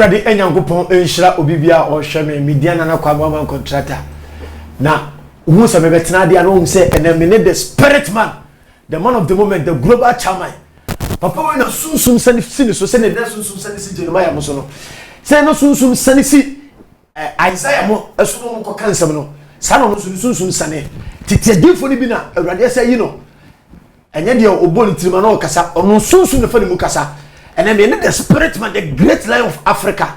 awurade anyankopɔn nhyira obi bi a ɔhwɛ me media nana kwa ma ɔma nkontrata na wohu sɛ mebɛtena adeɛ a na wohu sɛ ɛnɛ me ne the spirit man the man of the moment the global chairman papa wei na sunsum sani si ne so sɛdeɛ na sunsum sani si jeremiah mo so no sɛ na sunsum sani si Isaiah mo ɛso no ɔmo kɔ ka nsɛm no saa na ɔno nso ne sunsum sane tete adiifo no bi na awurade ɛsɛ ayi no ɛnyɛ deɛ ɔbɔ ne tirima na ɔkasa ɔno sunsum na fa ne mu kasa ɛnɛ mene the spirit man the great lion of Africa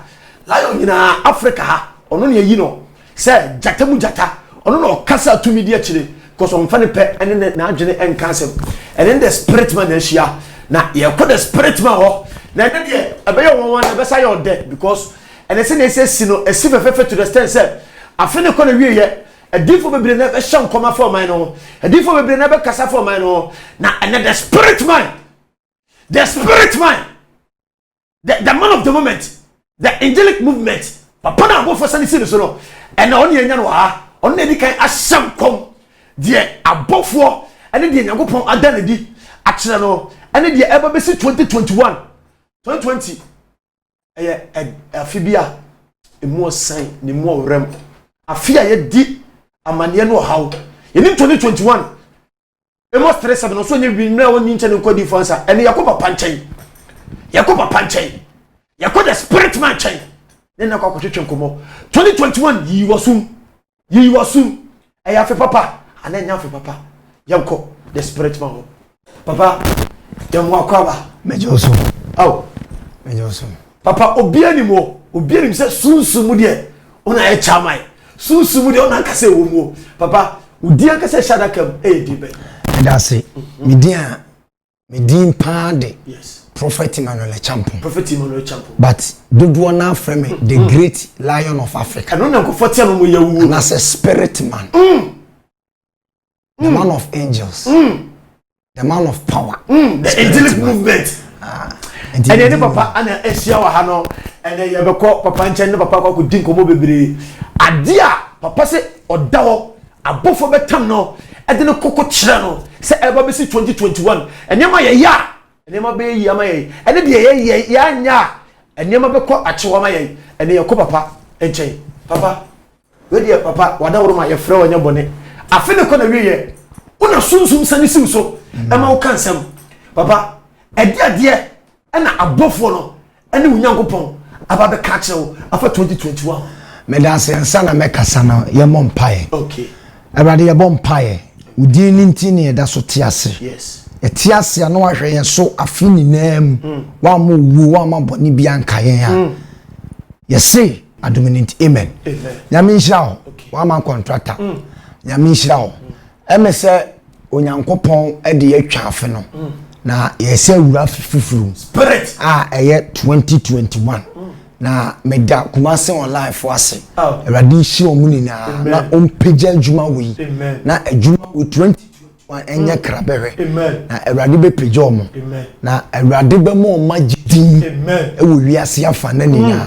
lion nyinaa Africa ha ɔno ne ayi no sɛ gyata mu gyata ɔno na ɔkasa tumi di akyire because ɔmfa ne pɛ ɛne ne n'adwene ɛnka asɛm ɛne the spirit man na ahyia na yɛkɔ the spirit man hɔ na ɛne deɛ ɛbɛyɛ wɔn wɔn ɛbɛsa yɛ ɔdɛ because Ɛne sɛnea ɛsɛ asi no asi fɛfɛɛfɛ to the extent sɛ afe no rekɔ n'awieɛ, adiyifoɔ bebree na ɛbɛhyɛ nkɔm afa ɔman no ho, adiyifoɔ bebree na ɛbɛkasa afa ɔman no ho, na ɛnnɛ the spirit man, the spirit man, the, the man of the moment, the angelic movement, papa no a abɔfoɔ sane si no so no, ɛna ɔne yɛnya no wɔ ha, ɔno na ɛdi kan ahyɛ nkɔm deɛ abɔfoɔ ɛne deɛ Nyankopɔn ada no adi akyerɛ no ɛne deɛ ɛba bɛsi 2021 2020 ɛyɛ afe bi a emu ɔsan na emu ɔwerɛm afe a yɛdi amaneɛ no ɔhaw yɛni ntoni twenty one amos three seven ɔsɔ nye wi mmerɛ a wɔnyi nkyɛn nkɔ di fansa ɛne yɛkɔ papa nkyɛn yɛkɔ papa nkyɛn yɛkɔ the spirit man nkyɛn ne nna kɔ akɔtwetwe nkɔmɔ twenty twenty one yi wɔ sum. Yiyi w'aso mu. Ɛyɛ afe papa anaa ɛnyɛ afe papa? Yɛnkɔ the spirit man hɔ. Papa, yɛn mu akɔ aba. Mɛgye wo so. Aw. Mɛgye wo so. Papa, obiara nim o. Obiara nim sɛ sunsun mu deɛ ɔna ayɛ chairman. Sunsun mu deɛ ɔna ankasa ɛwɔ mu o. Papa, wo din ankasa ɛhyɛ adaka mu ɛyɛ din bɛn? Ɛda ase. Me din a Me din paa de. Yes. Prophet Emmanuel Achampong. Prophet Emmanuel Achampong. But dodoɔ naa frɛ me the mm. great lion of Africa. Ɛno na nkɔfɔ tia no mo yɛ wuo. Na sɛ spirit man. Mm. The mm. man of angels. Mm. The man of power. Mm. The angelic man. movement. Ah. ɛdeɛ ne papa ana ahyia wɔ ha no ɛnɛ yɛbɛkɔ papa nkyɛn ne papa kɔ akɔdi nkɔmmɔ bebree adeɛ a papa sɛ ɔda hɔ Abɔfoɔ bɛtam no de no koko kyerɛ no sɛ ɛreba bɛsi 2021. Nneɛma a yɛyɛ a nneɛma bɛyɛ yie ama yɛn, ɛne deɛ yɛyɛ a yɛanyɛ a nneɛma bɛkɔ akyew ama yɛn, ɛnneɛ yɛkɔ papa nkyɛn. Papa, wei deɛ papa w'adaworo ma yɛfrɛ wo ɛnyɛ bɔne. Afe no kɔ n'awieɛ, wo na Sunsum sane si wo so ma woka nsɛm. Papa, ɛdeɛ adeɛ Ɛna abɔfoɔ no ɛne wo Nyankopɔn aba bɛka akyerɛ wo afa 2021 ho. Medase ansa na mɛkasa no yɛmmɔ mpaeɛ. Okay. Awurade yɛbɔ mpaeɛ. Wo din no nti ne yɛda so te ase. Yes. Yɛte ase a na wahwɛ yɛn so afe nyinaa mu. Mm. Wamma owuo, wamma bɔne bi anka yɛn a. Mm. Yɛse adom no nti, amen. Amen. Nyame nhyira wo. Okay. Wama nkɔntrata. Mm. Nyame nhyira wo. Mm. Ɛne sɛ Onyankopɔn de yɛatwa afe no na yɛsɛ awura afe foforo a ɛyɛ 2021 na meda Kumase online fo ase Awurade nhyira wɔn nyinaa na ɔmpagya adwuma wei na adwuma wei 20 ɛnyɛ krabɛhwɛ na awurade bɛpagya ɔmo na awurade bɛma ɔma gyedin ɛwɔ wiase afa na nyinaa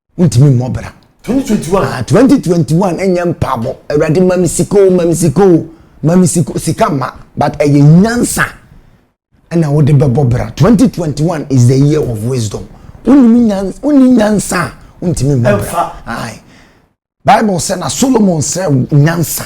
wontumi mmɔ bra. twenty twenty one. ah twenty twenty one ɛnyɛ mpaabɔ awurade mami sika o mami sika o mami sika sika ma but ɛyɛ nyansa ɛna wode bɛbɔ bra twenty twenty one is the year of wisdom wonimi nyansa wonni nyansa a wontumi mmɔ bra ayi bible sɛ na solomon srɛ nyansa.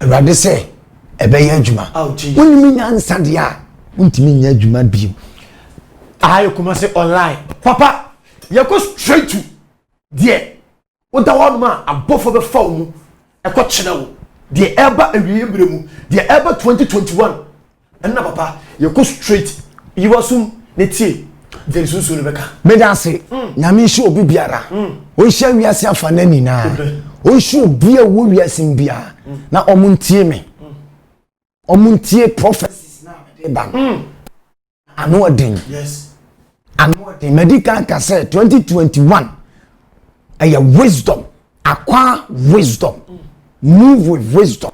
awurade sɛ ɛbɛyɛ adwuma wonim nyansa deɛ a wontumi nyɛ adwuma bio ayɛ kuma sɛ online papa yɛkɔ straight to deɛ woda hɔ nom a abɔfoɔ bɛfa wo mu ɛkɔ kyerɛ wo deɛ ɛba awieɛ mmerɛ mu deɛ ɛba 2021 Nna papa yɛkɔ straight yiwa sum na tie deɛ nsuosuo no bɛka. Meda ase nyame nhyɛ obi biara ɔnhyia wiase afana nyinaa ɔnhyɛ obia ɔwɔ wiase mu biara na ɔmo ntie me ɔmo ntie prophecies na mede ba no ano ɔden ano ɔden madi kan ka sɛ 2021 ɛyɛ wisdom acquire wisdom move with wisdom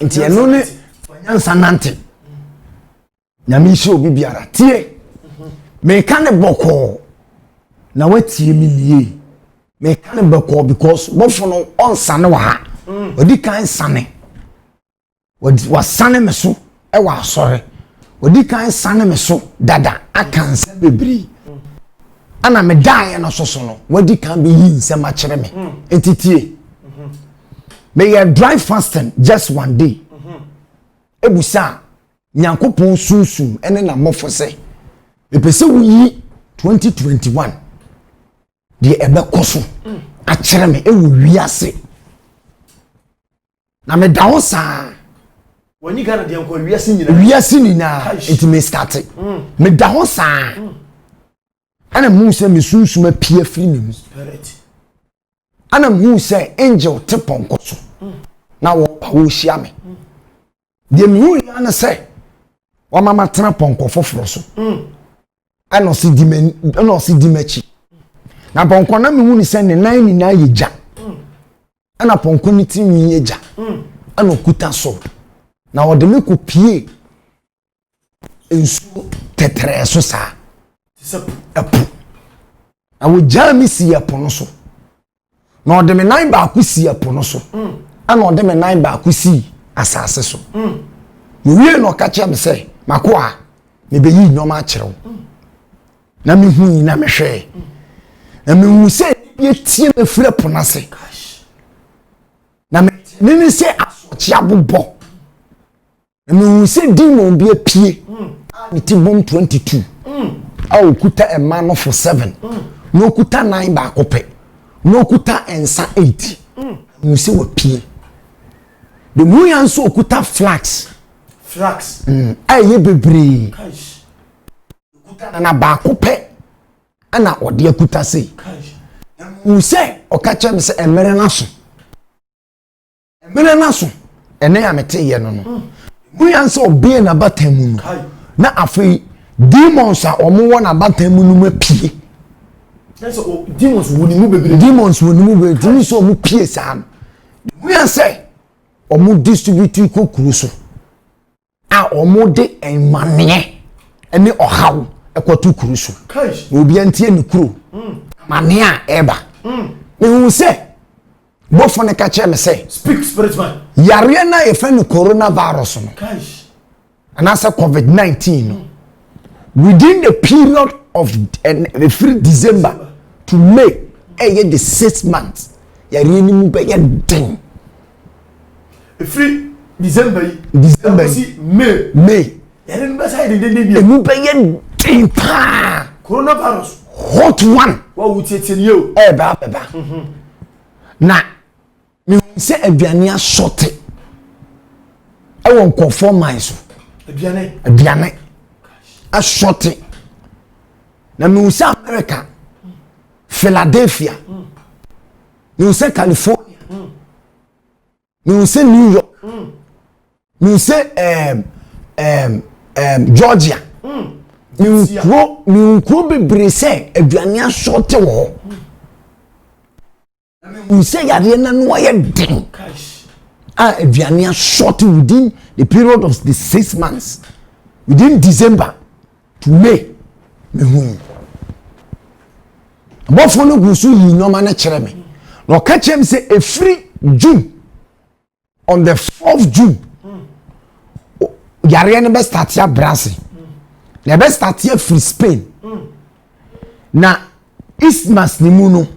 nti ɛno ne nyansa nante nyame nhyira obi biara tie meka ne bɔkɔɔ na watie me nie meka ne bɔkɔɔ because bɔfo no ɔnsane wɔ ha ɔdi mm. kan sane Wɔasane me so wɔ asɔre. Wɔdi kan sane me so dada aka nsɛm bebree. Ɛna me daeɛ no so so no, wɔadi kan bɛyi nsɛm akyerɛ me. Nti tie. Meyɛ dry fasting just one day. Ebusa a, Nyankopɔn sunsum ne n'abɔfo sɛ, mepɛ sɛ woyi 2021 deɛ ɛbɛkɔ so akyerɛ me ɛwɔ wiase na meda hɔ saa wɔnyi ghana deɛ nkɔ wiase nyinaa wiase nyinaa nti me starte mm. meda hɔ saa mm. ɛna mu sɛ me sunsum apia firi me mu ɛna mu sɛ angel te pɔnkɔ so mm. na wɔpa wɔhyia me deɛ mehu yia ne sɛ wama matena pɔnkɔ foforɔ so mm. ɛna ɔsi di ɛna ɔsi di m'akyi na pɔnkɔ na mehu ne sɛ ne nan nyinaa yɛ gya mm. ɛna pɔnkɔ ne ti nwi yɛ gya mm. ɛna ɔkuta so na ɔde me kɔ pie nsuo tɛtrɛɛ so saa te sɛ ɛpo na wɔgyaa me sii ɛpo no so na ɔde me nan baako sii ɛpo no so ɛna ɔde me nan baako sii asase so mewie na ɔka kyerɛ me sɛ mako a mebɛyi nneɛma akyerɛ wo na mehu yi na mehwɛɛ na mehu sɛ bi atie me firi ɛpo no ase na mene sɛ asoɔkye abobɔ Na mehuu sɛ demon bi apue mm. a ne ti bom 22 mm. a ɔkuta mma no fo 7 mm. na ɔkuta nan baako pɛ na ɔkuta nsa 8 mehuu sɛ wapue de mu ya nso ɔkuta flax flax a ɛyɛ bebree na baako pɛ ɛna ɔde akuta sei mehuu sɛ ɔka kyerɛ me sɛ mmerɛ no aso Mmerɛ no aso, ɛnɛ a meteeɛ no no, mu yɛn sɛ ɔbɛɛ n'abatan mu no, na afei demons a wɔn wɔ n'abatan mu no mu apue. Demons wɔ ne mu bebree. Demons wɔ ne mu bebree. Tumi sɛ wɔn pie saa no. Mu yɛn sɛ wɔn distribute kɔ kuro so. a wɔde mmaneɛ ne ɔhaw kɔto kuro so na obiara ntie ne kuro mm. amaneɛ a ɛreba mm. mehu sɛ bɔfo no ka kyerɛ me sɛ yareɛ no a yɛfrɛ no coronavirus no anaasɛ covid-19 no mm. within the period of ɛfiri eh, december to may ɛyɛ the six months yareɛ no mu bɛyɛ den ɛfiri december yi december yi may may yɛde no bɛsa yɛ dendenden bio ɛmu bɛyɛ den paa coronavirus hot one wawo tietie nie o ɛɛbɛ abɛba mhm. na mehu sɛ aduane asɔte ɛwɔ nkɔfoɔ man so aduane aduane asɔte na mehu sɛ america philadelphia mm. mehu sɛ california mm. mehu sɛ new york mm. mehu sɛ um, um, um, georgia mm. mehu kuro mehu kuro bebree sɛ aduane asɔɔte wɔ hɔ mehu sɛ yadeɛ no ano ayɛ den a aduane asɔɔte within the period of the six months within december Me, mehuu. Bɔfoɔ no gu so yii nneɛma no kyerɛ me. Na ɔka kyerɛ me sɛ ɛfiri June on the 4th June yareɛ no bɛstate abrɛ ase. Na ɛbɛstate afiri Spain. Na Isthmus ne mu no,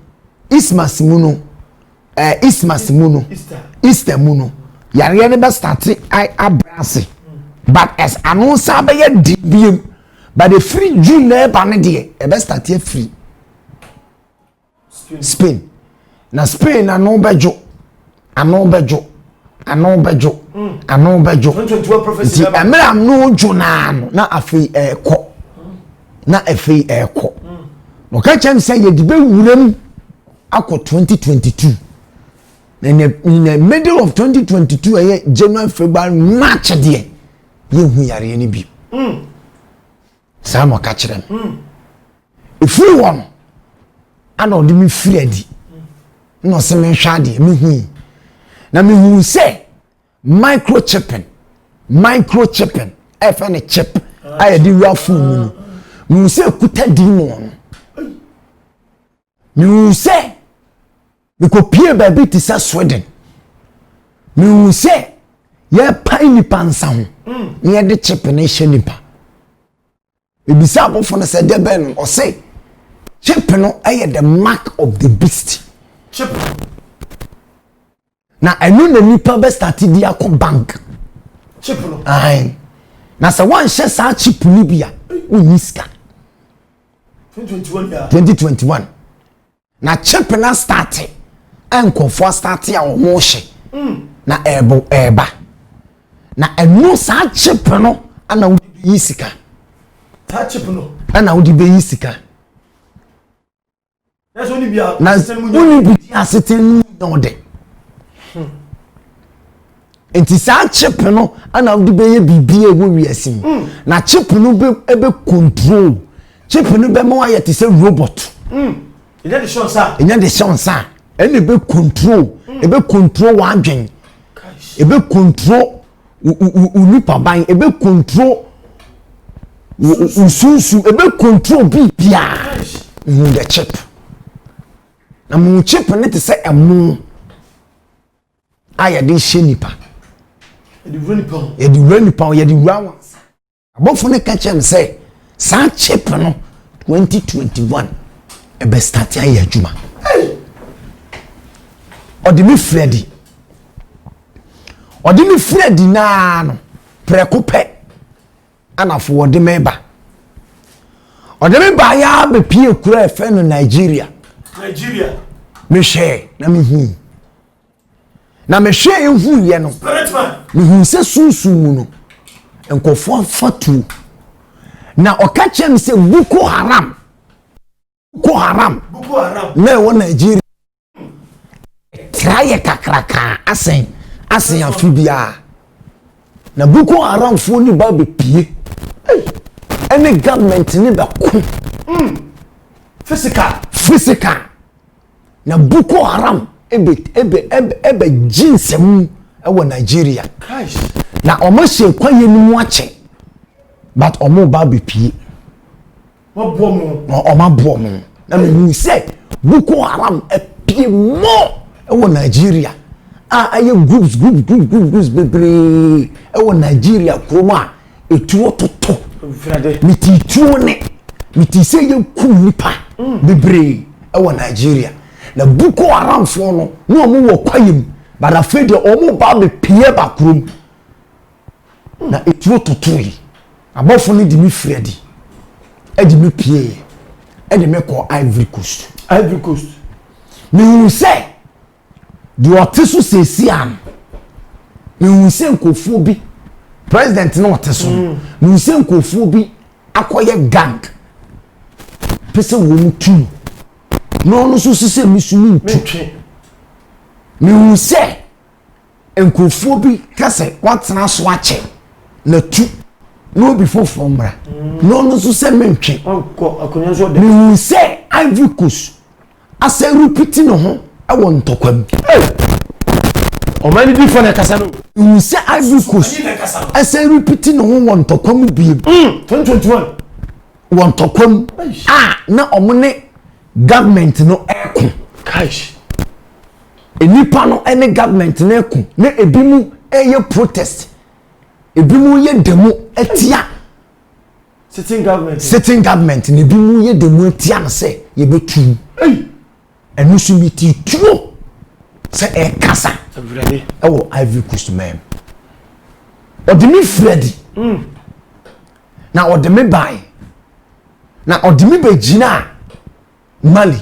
Isthmus mu no, ɛɛ eh, Isthmus mu no, Easter mu no, yareɛ no bɛ start abira ase, but ɛs ano san bɛyɛ di biem, but efiri June na ɛba no deɛ ɛbɛ start afiri Spain. Na Spain ano bɛdwo ano bɛdwo ano bɛdwo mm. ano bɛdwo nti mmerɛ ano dwo naa no na afei ɛrekɔ mm. na afei ɛrekɔ mm. na ɔka kyerɛ me sɛ yɛde bɛwura mu akɔ 2022 na in the, in the middle of 2022 ɛyɛ january february march deɛ yɛhu yareɛ no bi mm. saa na ɔka kyerɛ me ɛfiri hɔ no ana ɔde me firi adi na ɔsɛ menhwɛ adeɛ mehui na mehuu sɛ microchipping microchipping ɛfɛ ne chip a yɛde wura fon mu no mehu sɛ ɛkuta demon no Mehu sɛ mekɔpie baabi te sɛ Sweden. Mehu sɛ yɛrepae nnipa nsa ho mm. na yɛde chip no hyɛ nnipa. Ebisa abɔfo no sɛ dɛ bɛn no ɔse chip no yɛ the mark of the beast. Chip. Na ɛno na nipa bɛ start de akɔ bank. Chip no. Ahan. Na sɛ wɔnhyɛ saa chip no bi a, wonni sika. 2021 2021. Na chip na start a nkurɔfoɔ start a wɔn hyɛ. Mm. Na ɛɛbo ɛɛba. Na ɛno saa chip no ana wode bɛyi sika. Saa chip no. Ana wode bɛyi sika. na sɛ wonni bi a na asetena no mu nyɛ wonni bi di asetena no mu nyɛ wo dɛ nti saa chip no ana wode bɛyɛ biribi a ɛwɔ wiase yi mm. na chip no bɛ control chip no bɛma wayɛ te sɛ robot mm. ɛnyɛ de hyɛ nsa ɛnyɛ de hyɛ nsa ɛna ɛbɛ control ɛbɛ mm. control w'adwen ɛbɛ control wo nipaban, ebe control wo sunsun, ebe control biribiara. You the chip. Na mo chip ne te sɛ ɛmo a yɛde hyɛ nipa. Yɛde wura nipa ho. Yɛde wura nipa ho, yɛde wura wɔn nsa. Abɔfo no ka kyerɛ me sɛ saa chip no 2021 ɛbɛ start ayɛ adwuma ɔde me firi adi ɔde me firi adi naa no prɛko pɛ anafo ɔde me ba ɔde me ba yɛ abɛpie kura ɛfɛ no nigeria nigeria mehwɛ na mehu Na mehwɛɛ huiɛ no, mehuu sɛ sunsum mu no, nkurɔfoɔ afa tuo. Na ɔka kyerɛ me sɛ Boko Haram, Boko Haram na ɛwɔ Nigeria tra yɛ kakrakaa asɛn asɛn afe biara. Na Boko Haramfoɔ ni ba bɛpie ɛne government ne bɛko. Mm. Physical. Physical. na Boko Haram bɛgye nsam wɔ Nigeria. Na wɔahyɛ kwaeɛ no mu akyɛ but wɔreba abɛpue. Wɔaboa wɔn na mehu sɛ Boko Haram apue more wɔ Nigeria a ayɛ groups groups groups groups bebree wɔ Nigeria kurom a etuo toto ne ti tuo ne ne ti sɛ yɛ ku nipa mm. bebree ɛwɔ nigeria na boko haramfoɔ no na wɔn wɔ kwaeɛ mu badafe deɛ wɔn ba bepie ba kurom mm. na etuo toto yi abɔfo no de mi firi adi ɛde mi pie yɛ ɛde mi kɔ ivory coast ivory coast mihun sɛ. Deɛ ɔte so seesie a no, mehu sɛ nkurɔfoɔ bi, president na ɔte so no, mm. mehu sɛ nkurɔfoɔ bi akɔyɛ gang pɛ sɛ wɔn tu no na ɔno nso si sɛ mesu no ntu mehu sɛ nkurɔfoɔ bi ka sɛ wɔatena so akyɛ na tu na obi foforɔ mmra mm. na ɔno nso sɛ mentwe mehu sɛ ivory coast asɛ repiti ne ho wɔ ntɔkwa mu. Ɔman no difoɔ na ɛkasa no. Nhu sɛ Ivory Coast asɛ repiti ne ho wɔ ntɔkwa mu biem. Wɔ ntɔkwa mu a na wɔn ne government no ɛko. Nnipa no ne government no ɛko na ebi mu ɛyɛ protest, ebi mu yɛ demo ɛtia. sitting government sitting government na ebi mu yɛ dɛm atia no sɛ yɛbɛtu ɛno nso bi ti tuo sɛ ɛkasa ɛwɔ ivory coast man mu ɔde me fira di hmm. na ɔde me ban na ɔde me bɛgyina a Mali.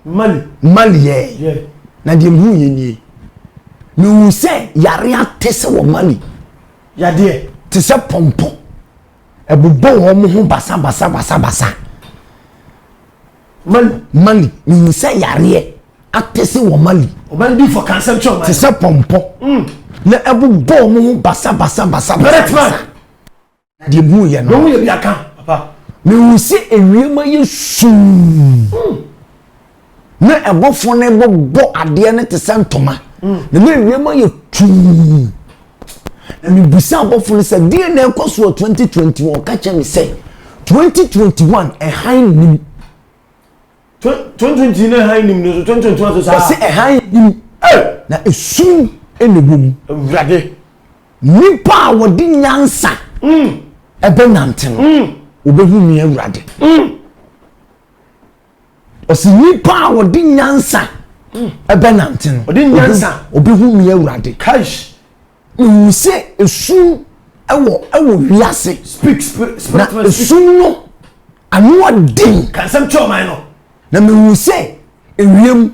Mali. Mali yɛ. Yɛ. Na deɛ mehuu yɛ nie. Mehuu sɛ yareɛ ate sɛ wɔ Mali. Yadeɛ. Te sɛ pɔmpɔ. Ɛbobɔ wɔn ho basa basa basa basa. Mali. Mali. Mehuu sɛ yareɛ ate sɛ wɔ Mali. Ɔbɛn bi fɔ kansɛm kyɛ ɔman. Te sɛ pɔmpɔ. Mm. Na ɛbobɔ wɔn ho basa basa basa basa. Bɛrɛtman. Na deɛ mehuu yɛ no. Mehuu yɛ bi aka, papa. Mehuu sɛ ewiem ayɛ sum. Mm. Na ɛbɔfoɔ no bɔbɔ adeɛ no te sɛ ntoma. Mm. Na na ewiem ayɛ tuu. Na mebisa abɔfoɔ no sɛ deɛ na ɛkɔ so wɔ 2021 ɔka kyerɛ me sɛ 2021 ɛhan nim. Tontonti na hann nim no so tontonto ase saa. Ɔse hann nim na esum na ɛwɔ mu. Awurade. Nnipa a wɔde nyansa mm. ɛbɛ nante no mm. wɔbɛhu me awurade. Mm. Ɔse nnipa a wɔde nyansa ɛbɛ nante no wɔbɛhu me awurade. Kaish. Mehu sɛ esum wɔ wɔ wiase. Speak spirit spirit. Na esum no ano ɔden. Ka nsɛm kyerɛ ɔman no. Na mehu sɛ ewiem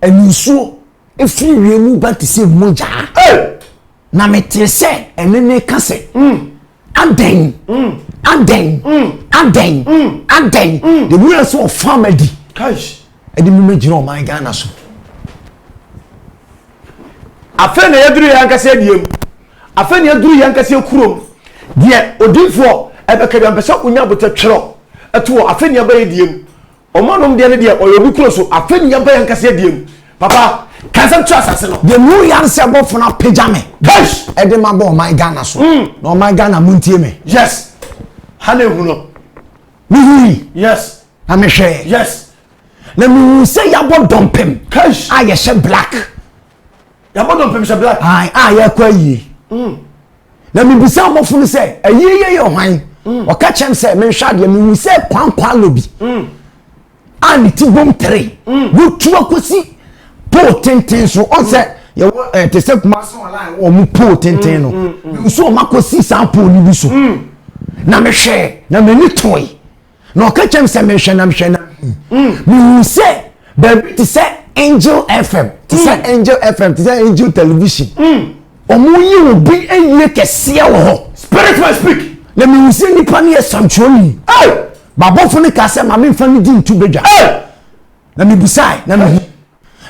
ɛne nsuo efiri wiem ba te sɛ mogya. Hey! Na metere sɛ ɛne ne ka sɛ. Mm. Adɛn? Adɛn? Adɛn? Adɛn? The wura sɛ ɔfa ma di. Ɛde mu mɛgyina ɔman Ghana so. Afei na yɛduru yɛn ankasa adie mu. Afei na yɛduru yɛn ankasa kurom. Deɛ odiifoɔ ɛbɛka bi ampɛ sɛ wonya abotɛ twerɛ ɛtoɔ afei na yɛba yɛ die mu. Ɔmo anom deɛ no deɛ ɔyɛ obi kuro so afei ne yɛba yɛn ankasa adie mu papa ka nsɛm kyerɛ asase no. Deɛ mehu yare sɛ bɔfo no apagya me de ma bɔ ɔman Ghana so na ɔman Ghana montie me. Yes ha na ehu no. Mehui. Yes. Na mehwɛɛ. Yes. Na mehu sɛ yɛabɔ dɔmpem a yɛhyɛ black. yɛabɔ dɔmpem hyɛ black ae a yɛakɔ ayie mm. na mebisa abɔfo no sɛ ayie yɛ yɛ hwan mm. ɔka kyɛm sɛ menhwɛ adeɛ mehu sɛ kwankwalo bi mm. a ne ti bom tere wotu akɔsi pole tenten so ɔn sɛ yɛwɔ ɛɛ eh, te sɛ kuma so ɔla ɛwɔ ɔmo pole tenten no nso ɔmo akɔsi saa pole no bi so na mehwɛ na m'ani tɔe. na ɔka kyɛm sɛ mehwɛ na mehwɛ na mehu sɛ baabi te sɛ angel fm te sɛ mm. angel fm te sɛ angel television ɔmo mm. yi wo bi ayie kɛseɛ wɔ hɔ spirit man speak na mehu sɛ nipa no yɛ santuoni babɔfo no ka sɛ ma memfa no di nto badwa na mebusae na mehu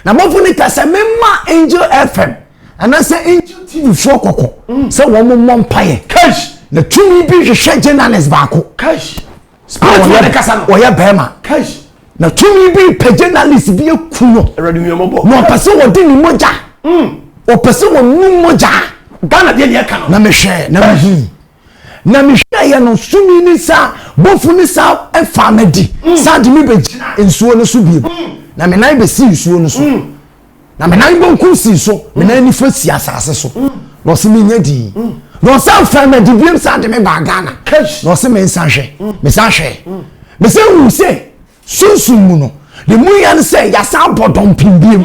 na bɔfo no ka sɛ memma angel fm anaasɛ angel tv foɔ kɔkɔ mm. sɛ wɔn mo mmɔ mpaeɛ na tumi bi hwehwɛ journalist baako ɔyɛ bɛrima na tumi bi pɛ journalist bi aku no na ɔpɛ sɛ wɔde ne mogya mm. ɔpɛ sɛ wɔnu mogya na mehwɛ na mehu Na mehwɛeɛ no, sumii ne saa bɔfo no san faa me adi san de me bɛgyinaa nsuo no so bio, na me nan bɛsii nsuo no so, na me nan benkum sii so, me nan nifa sii asase so, na ɔse menya dii. Na ɔsan faa me adi biom san de me baa Ghana, na ɔse mensan hwɛ. Mesan hwɛɛ. Mesan huu sɛ sunsum mu no, ne mu ya no sɛ yɛasan abɔ dɔmpem biom.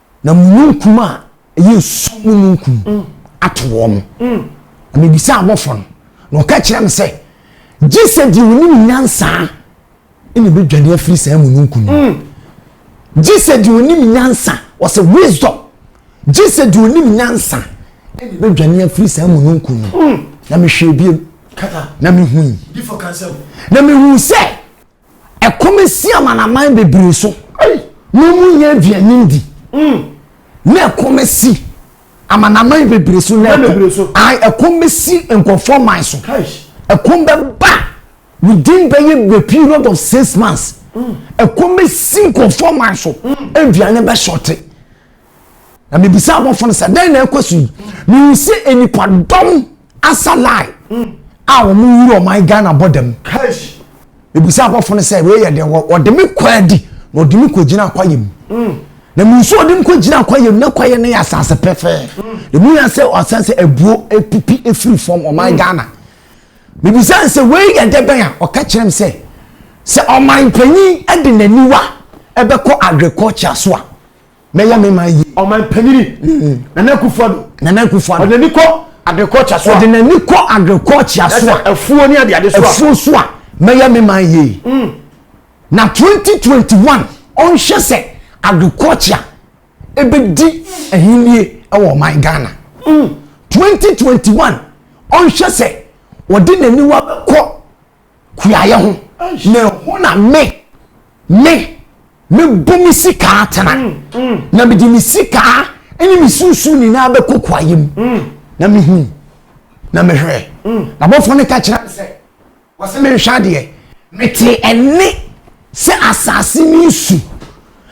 na mununkum a ɛyɛ esum mununkum ato wɔn. Mm. Na mebisa abɔfo no, na ɔka kyerɛ me sɛ, gye sɛ deɛ onim nyansa na ebedwane afiri saa mununkum no. Mm. Gye sɛ deɛ onim nyansa, wɔsɛ wisdom. Gye sɛ deɛ onim nyansa na ebedwane afiri saa mununkum no. Mm. Na mehwɛ ebiem. Na mehui. Na mehu sɛ Ɛkɔm asi amanaman bebree so na wɔnnya aduane ndi. Mm. Na ɛkɔm asi amanaman bebree so na ɛkɔm bɛsi nkurɔfoɔ man so. Ɛkɔm bɛba within bɛyɛ the period of six months. Mm. Ɛkɔm bɛsi nkurɔfoɔ man so. Mm. Aduane bɛhyɔte. na mebisa abɔfo no sɛ dɛn na ɛkɔ so yi mehu sɛ nnipadɔm asa line hmm. a wɔn wura ɔman ghana bɔ dam mebisa abɔfo no sɛ wei yɛ dɛn wɔde me kɔ adi na ɔde me kɔgyina akwayɛ mu hmm. na mensu ɔde me kɔgyina akwayɛ mu na akwayɛ no yɛ asase pɛfɛɛ hmm. na mu yɛ sɛ ɔsan sɛ abuo apipi afiri fam ɔman ghana mebisa sɛ wei yɛ dɛ bɛn a ɔka kyerɛ m sɛ sɛ ɔman panyin de n'aniwa ɛbɛkɔ agriculture so a mɛyɛ me man yie. ɔman panyini mm. nana akufuado nana akufuado ɔde n'ani kɔ agriculture so a ɔde n'ani kɔ agriculture so a afuo ne adeade so a afuo so a mɛyɛ me man yie mm. na twenty twenty one ɔnhyɛ sɛ agriculture ebedi ahinie ɛwɔ ɔman ghana mm. twenty twenty one ɔnhyɛ sɛ ɔde n'aniwa kɔ. kuayɛ ho na ɛhɔ na me me mɛbu me sika atena mm, mm. na mede me sika ne me susu nyinaa bɛkɔ kuayɛ mu mm. na mehu na mehwɛ na bɔfoɔ no ka kyerɛ me sɛ wɔsɛ menhwɛ adeɛ mete ɛne sɛ asase ne nsu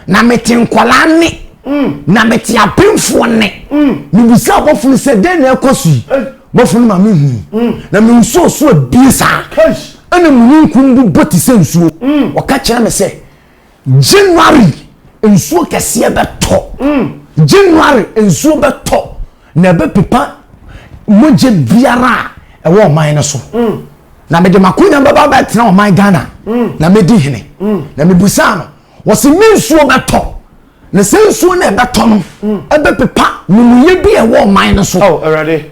na mete nkwadaa nne mm. na mete apemfoɔ nne mm. mebisa ɔbɔfo no sɛ dɛn na ɛkɔ so yi eh. bɔfo no ma mehu mm. na mensuo so abie saa ɛna mununkum bu bɔ te sɛ nsuo ɔka kyerɛ me sɛ january nsuo kɛseɛ bɛtɔ january nsuo bɛtɔ na ɛbɛpepa mogya biara a ɛwɔ ɔman no so na mede makonya bɛba bɛtena ɔman ghana na medi hene na mebusaa no Wɔsi ne nsuo bɛtɔ, na sɛ nsuo no ɛbɛtɔ no ɛbɛpepa mumuyɛ bi a ɛwɔ ɔman no so.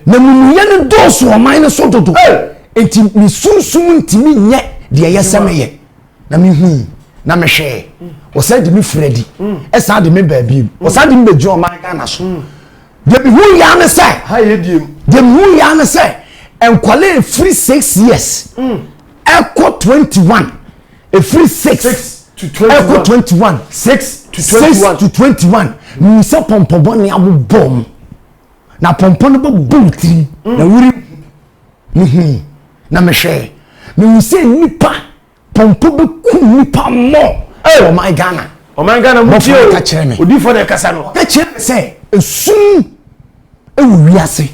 Na mumuyɛ no dɔɔso ɔman no so dodo. Enti me sunsum ntumi nyɛ deɛ ɛyɛ sɛ meyɛ. Na mehui, na mehwɛɛ, wɔsan de me firi adi, ɛsan de me baa bio, wɔsan de me bɛgyina ɔman Ghana so. Deɛ mehui yaa ne sɛ, deɛ mehui yaa ne sɛ, nkwadaa ɛfiri six years ɛkɔ twenty one. ɛfiri 6 ɛkɔ 21 6 to 21 menim sɛ pɔmpɔ bɔne abobɔ mu na pɔmpɔ no bɛbɔ wo tirim mm. na wori mehui na mehwɛɛ mehu sɛ nnipa pɔmpɔ bɛku nnipa mmɔ ɛwɔ ɔman ghana ɔman ghana mu tie o odiifo na ɛkasa no ɛkyerɛ me sɛ ɛsum wɔ wiase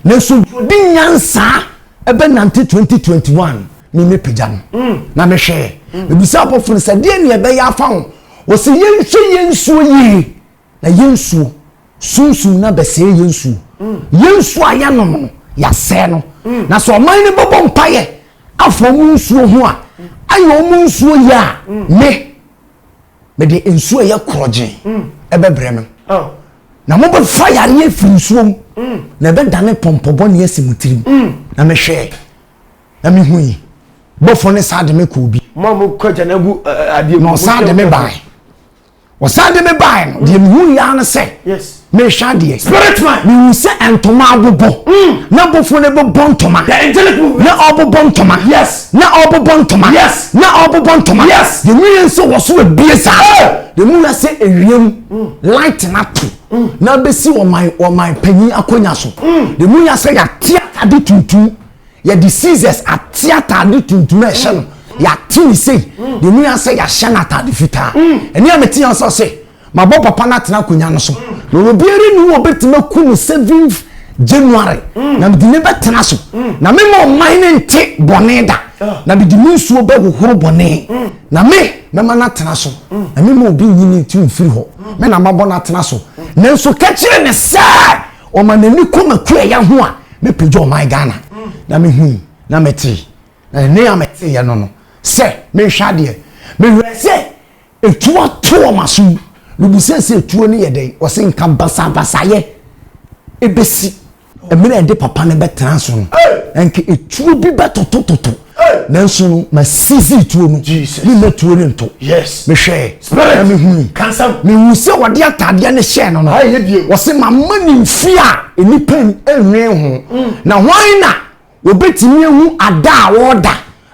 nanso deɛ ɔdi nyansaa ɛbɛnante 2021 ne mɛpagya no mm. na mehwɛɛ mm. mebisa abɔfo no sɛ deɛ neɛ ɛbɛyɛ afa ho wɔsɛ yɛnhwɛ yɛn nsuo yie na yɛn nsuo sunsum na bɛsɛe yɛn nsuo mm. yɛn nsuo a yɛnom no yɛasɛe no na sɛ ɔman no bɛbɔ mpayɛ afa ɔmo nsuo ho a ayɛ ɔmo nsuo yɛ a me Mede nsuo a ɛyɛ korɔgyee bɛbrɛ no, na mobɛfa yareɛ afiri nsuo mu, na ɛbɛdane pɔmpɔ bɔne asi mo tirim. Na mehwɛɛ, na mehui bɔfoɔ no san de me kɔɔ bi. Mo a mokɔ agya no agu adeɛ mu. Na ɔsan de me bae. Ɔsan de me bae no, deɛ mehui ara ne sɛ. Yes. Merehwɛ adeɛ. Spirit man. Mehu sɛ ntoma abobɔ. Na bɔfoɔ no rebobɔ ntoma. The angelic movement. Na ɔrebobɔ ntoma. Yes. Na ɔrebobɔ ntoma. Yes. Na ɔrebobɔ ntoma. Yes. Deɛ meyɛ nso wɔ so abie saa. Hey! Deɛ mewura sɛ ewiem light no ato na abɛsi ɔman ɔman panyin akonnwa so. Deɛ mewura sɛ yɛate atade tuntum yɛde scissors ate atade tuntum a ɛhyɛ no yɛate ne sei. Deɛ mewura sɛ yɛahyɛ no atade fitaa. Ɛne a mete yɛn sɛ ɔse Mabɔ papa no atena akonnwa no so, na obiara nni hɔ a ɔbɛtumi aku no seventh January, mm. na mede ne bɛtena so, mm. na mema ɔman no nte bɔne da, ah. na mede me nsuo bɛhohoro bɔne, mm. na me mɛma no atena so, na mema obi nyi ne ti mfiri hɔ, me na mabɔ no atena so. Nanso ka kyerɛ ne sɛ ɔma n'ani kɔ makuayɛ ho a, mɛpagya ɔman Ghana, na mehui, na metee, na ɛne a meteeɛ no no, sɛ mehwɛ adeɛ, mehwɛ sɛ Etuo ato wɔn aso yi. Mebisa sɛ etuo no yɛ dɛn? Wɔse nka basabasayɛ besi. Mmerɛ a ɛde papa no bɛtena so no, anka etuo bi bɛtotototo. Nanso no, masizi etuo no. Memma tuo no nto. Mehwɛɛ, na mehui. Mehuu sɛ wɔde ataadeɛ no hyɛɛ no no, wɔse, Mamma no mfie a nnipa nnwen ho, na hwan na Wɔbɛtumi ahu ada a wɔreda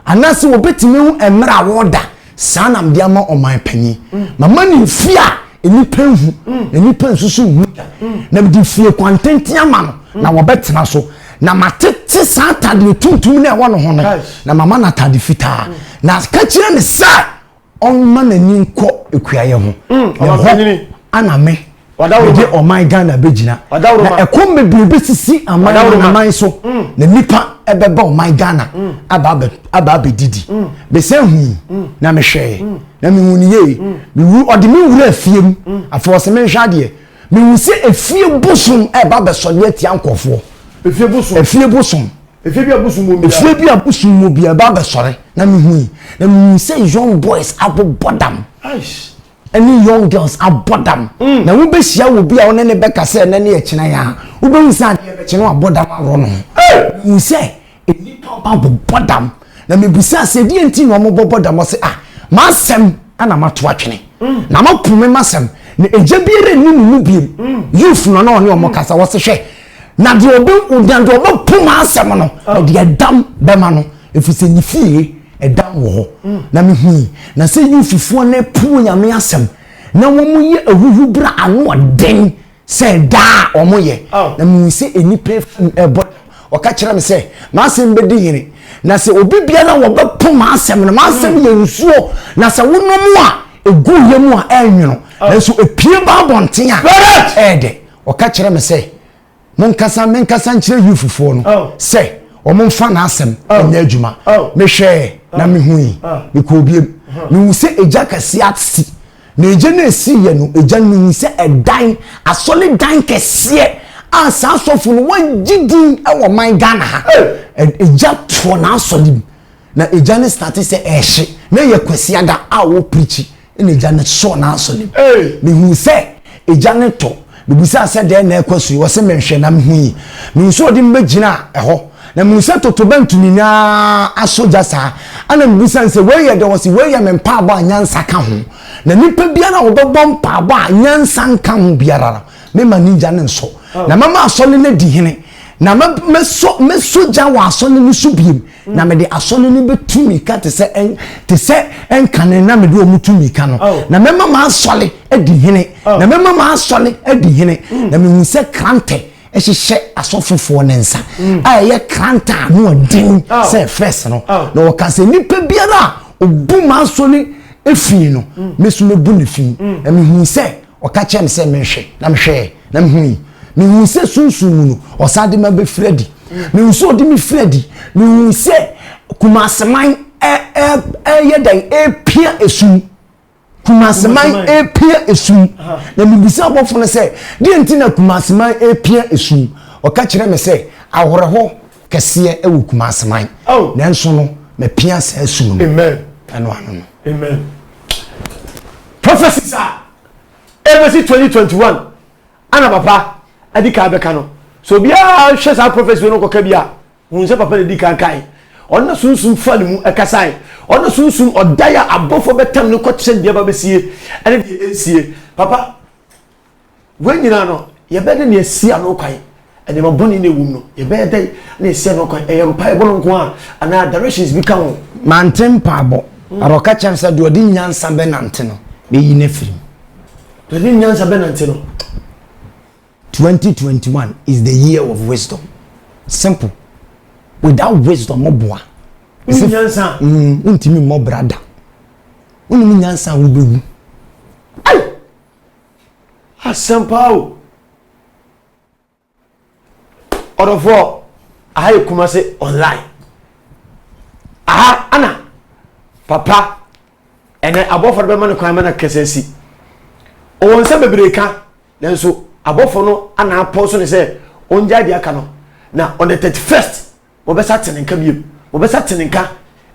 anaasɛ wɔbɛtumi ahu mmerɛ a wɔreda, saa na mede ama ɔman panin. Mama no mfie a nnipa nhu na nnipa nsusu nhu da, na mede fie kwantenten ama no, na wɔbɛtena so. Na matete saa atadeɛ tuntum no a ɛwɔ ne ho no, na mama no atadeɛ fitaa. Na ka kyerɛ no sɛ, ɔmma n'ani nkɔ akuayɛ ho mm, na hɔ ana me mede ɔman ghana bɛgyina na ɛkɔm bebree bɛsisi aman anaman so mm. na nnipa ɛbɛba ɔman ghana mm. aba abɛdidi bɛsɛ hui na mehwɛɛ na mehu no yie mewu ɔde me wura afie mu afei ɔsɛ menhwɛ adeɛ Mehu sɛ efie bosom reba abɛsɔre atia nkurɔfoɔ. Efie bosom. Efie bosom. Efie bi a bosom wɔ mu biara. Efie bi a bosom wɔ biara ɛba abɛsɔre na mehu yi na mehu sɛ young boys abobɔ dam. Aish. Ɛne young girls abɔ dam. Mm. Na wobɛhyia wɔ bi a wone ne bɛka sɛ ɛnɛ ne ɛkyena yi a wobɛhu sɛ adeɛ bɛkye no abɔ dam aworɔ no ho. Hey! Mehu sɛ Nnipa ba bɔbɔ dam. Na mibisaa sɛ, Deɛn nti na wɔbɔbɔ dam? Ɔse, Ah, m'asɛm na mato atwene, na mopo me m'asɛm, na agya biara nni mo mu biom. Yuf no na ɔne wɔn kasa. Ɔse, Hwɛ, na deɛ ɔbɛ, na deɛ ɔbɛpo m'asɛm no, ɔde ɛdam bɛma no, ɛfiri sɛ ne fie, ɛdam wɔ hɔ. Na mehui, na sɛ Yuffoɔ no apu Onyame asɛm, na wɔyɛ ahuhubra, ano ɔden, sɛ daa a wɔyɛ na mehu sɛ nnipa afim ɛbɔ ɔka kyerɛ me sɛ m'asɛm bɛdi hene na sɛ obi bia na wɔbɛpo m'asɛm no m'asɛm hmm. yɛ nsuo na sɛ wonom a ɛgu yɛ mu a ɛnwono oh. nanso ɛpie ba abɔnten a ɛɛdɛ ɔka kyerɛ me sɛ monkasa menkasa nkyerɛ yufufoɔ no oh. sɛ wɔmfa n'asɛm oh. ɛnyɛ adwuma mehwɛɛ na mehui mekɔɔ biam mehu sɛ ɛgya kɛseɛ ase Na egya no a esiiɛ no, egya no nyi sɛ ɛdan asɔredan kɛseɛ a saa asɔfo no wɔgye din wɔ man Ghana ha. Egya toɔ n'asɔre mu na egya no starte sɛ ɛrehye na ɛyɛ Kwasiada a ɔreprikyi na egya no sɔɔ n'asɔre mu. Mehuu sɛ egya no tɔ. Mibisaa sɛ dɛn na ɛrekɔ so yi? Ɔse menhwɛ na mehui. Mihu sɛ ɔde me bɛgyinaa ɛhɔ. Na mihu sɛ totorobɛnto nyina ara aso gya saa. Ɛna mibisa no sɛ wei yɛ dɛn? Ɔse wei yɛ me mpaabɔ a nyansa ka ho. Na nnipa biara a ɔbɛbɔ mpaabɔ a nyansa nka ho biara no, mema ne gya no nso. Na mɛma asɔre no adi hene. Na mɛsɔ gya wɔ asɔre no so bio. na mede asɔre no bɛtu mmirika te sɛ te sɛ nkane na mede wɔn tu mmirika no oh. na mɛma m'asɔre adi hene oh. na mɛma m'asɔre adi hene mm. na mehu sɛ krantɛ ɛhyehyɛ asɔfofoɔ ne nsa mm. a ɛyɛ krantɛ a no ɔden oh. sɛ fɛs no na wɔka sɛ nnipa biara a ɔbu m'asɔre efii no mm. me so mɛbu ne fi na mehu sɛ Ɔka kyerɛɛ me sɛ menhwɛ, na mehwɛɛ, na mehui. Mehuu sɛ sunsum mu no, ɔsan de me abɛfiri adi. Mehuu sɛ ɔde me firi adi. Mehuu sɛ Kumaseman ɛyɛ dɛn ɛrepia esum. Kumaseman ɛrepia esum. Na mebisa abɔfo no sɛ, deɛ nti na Kumaseman ɛrepia esum? Ɔka kyerɛɛ me sɛ, awerɛhɔ. kɛseɛ wɔ Kumase man, nanso no mapia saa su no mu. Amen. Ɛno ano no. Amen. Prophecies a ɛbɛsi 2021 ana papa adi kan bɛka no. So obiara hwɛ saa prophecy no kɔka bi a, hun sɛ papa na di kan kae. Ɔno na sunsum fa ne mu ɛkasae. Ɔno na sunsum ɔdae a abɔfoɔ bɛtam no kɔkyerɛ deɛ ɛba bɛsie ɛne deɛ ɛnsie. Papa, Wei nyinaa no, yɛbɛyɛ dɛn na yɛasi ano kwan? Nneɛma bɔne na ɛwom no, yɛbɛyɛ dɛn na yɛasi ano kwan? Ɛyɛ mpaebɔ no nko ara anaa directions bi ka ho? Mante mpaebɔ, na wɔka kyerɛ me sɛ deɛ ɔde nyansa bɛnante no, mɛyi no afiri mu. Deɛ ɔde nyansa bɛnante no. 2021 is the year of wisdom. Simple. Without wisdom, mo boa. Wonni nyansa. Mm, wontumi mmɔ bra da. Wonim nyansa a wobɛwu. Asɛm paa o. Ɔdɔfoɔ, aha yɛ Kumase online. Aha ana papa ɛnɛ abɔfoɔ no bɛma no kwan ma no akasa asi. Ɔwɔ nsɛm bebree ka nanso abɔfoɔ no ana apɔn so ne sɛ ɔngyae deɛ aka no na on the 31st Wɔbɛsa ate ne nka biom. Wɔbɛsa ate ne nka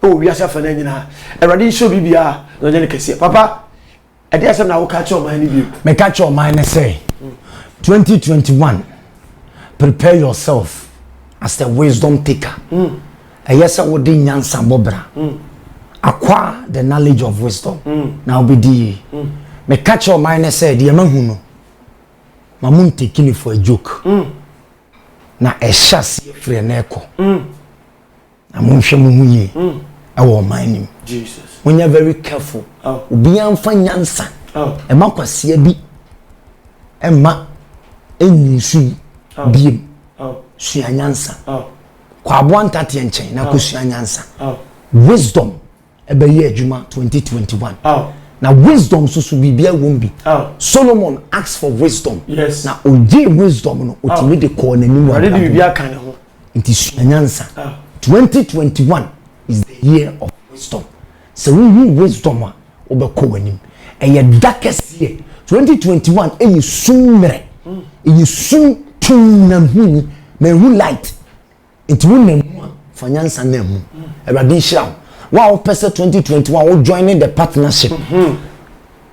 wɔ wiase afanan nyinaa. Awurade nhyira obi biara na ɔnyɛ no kɛseɛ. Papa, ɛde asɛm na woka kyerɛ ɔman no bio. Meka kyerɛ ɔman no sɛ, 2021, prepare yourself as a wisdom taker. Mm. Ɛyɛ sɛ wode nyansa bɔ bra. Mm. Acquire the knowledge of wisdom. Mm. Na wobɛdi yie. Mm. Meka kyerɛ ɔman no sɛ, deɛ mahu no, ma mo ntekini for a joke. Mm. na ɛhyɛ aseɛ firi ɛnɛ ɛkɔ mm. na monhwɛ mo ho yie mm. ɛwɔ ɔman nim monyɛ very careful oh. obiara mfa nyansa oh. ɛma kwaseɛ bi ɛma ɛnyi nso yi oh. biem sua nyansa kɔ aboa ntateɛ nkyɛn na kɔsua nyansa wisdom ɛbɛyɛ adwuma 2021 oh. na wisdom nso so biribiara wɔ mu bi oh. solomon ask for wisdom yes. na ogye wisdom no otumi oh. de kɔɔ n'anim wɔ abrabɔ nti sua nyansa 2021 is the year of wisdom sɛ wohu wisdom a wobɛkɔ w'anim ɛyɛ da kɛseɛ 2021 ɛyɛ sum mmerɛ ɛyɛ sum tum na hu ni na ɛhu light Nti wo nam mu a, fa nyansa nam mu. Awurade nhyira wo. Wo a wopɛ sɛ 2021 wo join ne the partnership. Mhm.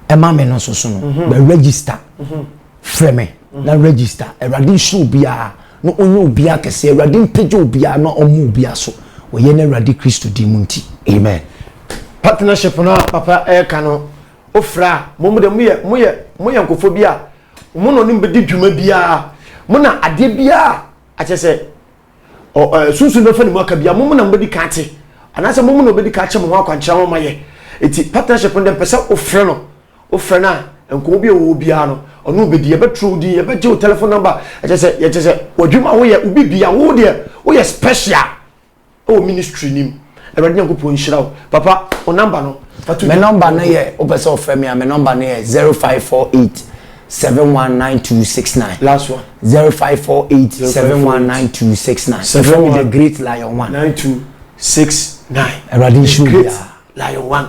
Ɛma me no so so no. Mhm. Bɛ register. Mhm. Frɛ me na register. Awurade nhyira obiara na ɔnyɛ obiara kɛse. Awurade mpagya obiara na ɔmma obiara so. Wɔyɛ no Awurade Kristo din mu nti. Amen. Partnership no a papa ɛka no ofra a mo mo de mo yɛ mo yɛ mo yɛ nkɔfo bi a mo na ɔne mo bɛdi dwuma biara mo na adeɛ biara Akyɛ sɛ, ɔ, ɛ, Sunsum no bɛfa ne mu aka bia, mo mo na mobɛdi kan ate, anaasɛ mo mo na ɔbɛdi kan akyɛ mo ho akwankyerɛ ama moayɛ. Enti, partnership no deɛ, mpɛ sɛ wofrɛ no, wofrɛ no a, nkɔmmɔ bi a ɛwɔ hɔ biara no, ɔne wo bɛdi. Yɛbɛtwerɛ wo din, yɛbɛgye wo telephone number, ɛkyɛ sɛ, yɛkyɛ sɛ, w'adwuma a woyɛ, wo biribiara, wo deɛ, woyɛ special. ɛwɔ ministry nim awurade nyankopɔn nhyira wo papa wo number no me number no yɛ wopɛ sɛ ɔfrɛ me a me number no yɛ 0548 719269 last one 0548 719269 ɛfrɛ me the great lion one 9269 awurade nhyira wo biara lion one